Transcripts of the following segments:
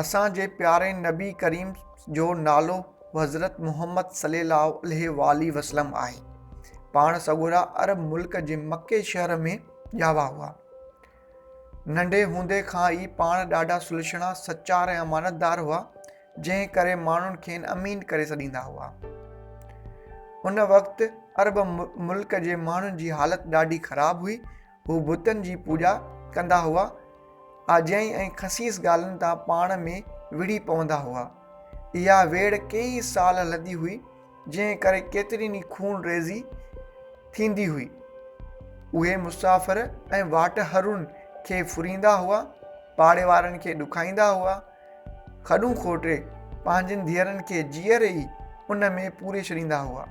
اسان جي پياري نبي ڪريم جو نالو حضرت محمد صلي الله عليه والي وسلم آهي پاڻ سڳورا عرب ملڪ جي مکي شهر ۾ ڄاوا هئا ننڍي هوندي کان ئي پاڻ ڏاڍا سلشڻا سچار ۽ امانتدار هئا جنهن ڪري ماڻهن کين امين ڪري سڏيندا هئا ان وقت عرب ملڪ جي ماڻهن جي حالت ڏاڍي خراب هئي هو بتن جي پوڄا ڪندا هئا، آجيائي ۽ خسيس ڳالهين تان پاڻ ۾ وڙهي پوندا هئا. اها ويڙهه ڪيئي سال هلندي هئي، جنهن ڪري ڪيترين ئي خون ريزي ٿيندي هئي. اهي مسافر ۽ واٽهرن کي ڦريندا هئا، پاڙي وارن کي ڏکائيندا هئا. کڏون کوٽي پنهنجين ڌيئرن کي جيئري ئي ان ۾ پوري ڇڏيندا هئا.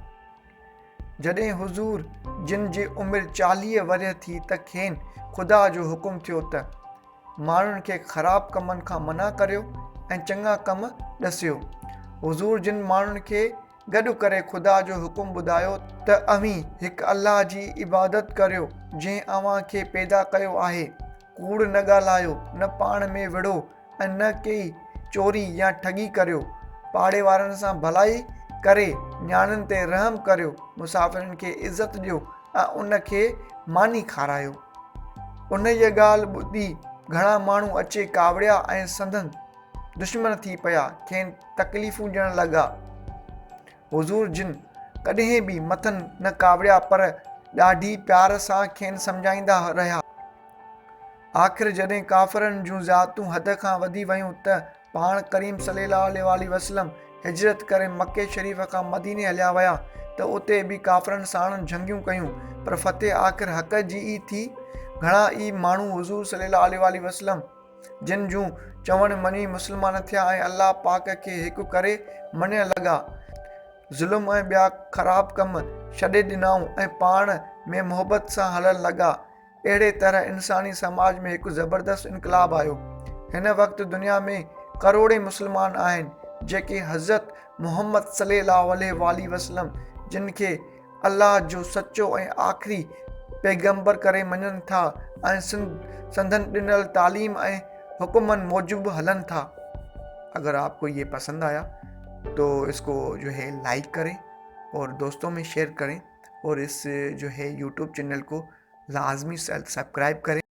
جڏهن حضور جن جي عمر چاليهه ورهيه ٿي ته کين خدا جو حڪم ٿيو ته، ماڻهن کي خراب ڪمن کان منع ڪريو ۽ چڱا ڪم ڏسيو. حضور جن ماڻهن کي گڏ ڪري خدا جو حڪم ٻڌايو ته اوهين هڪ الله جي عبادت ڪريو جنهن اوهان کي پيدا ڪيو آهي، ڪوڙ نه ڳالهايو، نه پاڻ ۾ وڙهو، ۽ نه ڪي چوري يا ٺڳي ڪريو. پاڙي وارن سان ڀلائي ڪري نياڻين تي رحم ڪريو، مسافرن کي عزت ڏيو ۽ ان کي ماني کارايو. انهيء ڳالهه ٻڌي گهڻا ماڻهو اچي ڪاوڙيا ۽ سندن دشمن ٿي پيا، کين تڪليفون ڏيڻ لڳا. حضور جن ڪڏهن به مٿن نه ڪاوڙيا پر ڏاڍي پيار سان کين سمجهائيندا رهيا. آخر جڏهن ڪافرن جون زيادتون حد کان وڌي ويون ته پاڻ ڪريم صلي الله عليه واٰله وسلم هجرت ڪري مڪي شريف کان مديني هليا ويا ته اتي به ڪافرن ساڻن جهنگيون ڪيون پر فتح آخر حق جي ئي ٿي. گهڻا ئي ماڻهو حضور صلي الله عليه واٰله وسلم جن جون چوڻ مڃي مسلمان ٿيا ۽ الله پاڪ کي هڪ ڪري مڃڻ لڳا، ظلم ۽ ٻيا خراب ڪم ڇڏي ڏنائون ۽ پاڻ ۾ محبت سان هلڻ لڳا. اهڙي طرح انساني سماج ۾ هڪ زبردست انقلاب آيو. هن وقت دنيا ۾ ڪروڙين مسلمان آهن جيڪي حضرت محمد صلي الله عليه واٰله وسلم جن کي الله جو سچو ۽ آخري پيغمبر ڪري مڃن ٿا ۽ سندن ڏنل تعليم ۽ حڪمن موجب هلن ٿا اگر آپ ڪو يي پسند آيا تو اس ڪو جو هي لائيڪ ڪري اور دوستو مين شيئر ڪري اور اس جو هي يوٽيوب چينل ڪو لازمي سبڪرائيب ڪري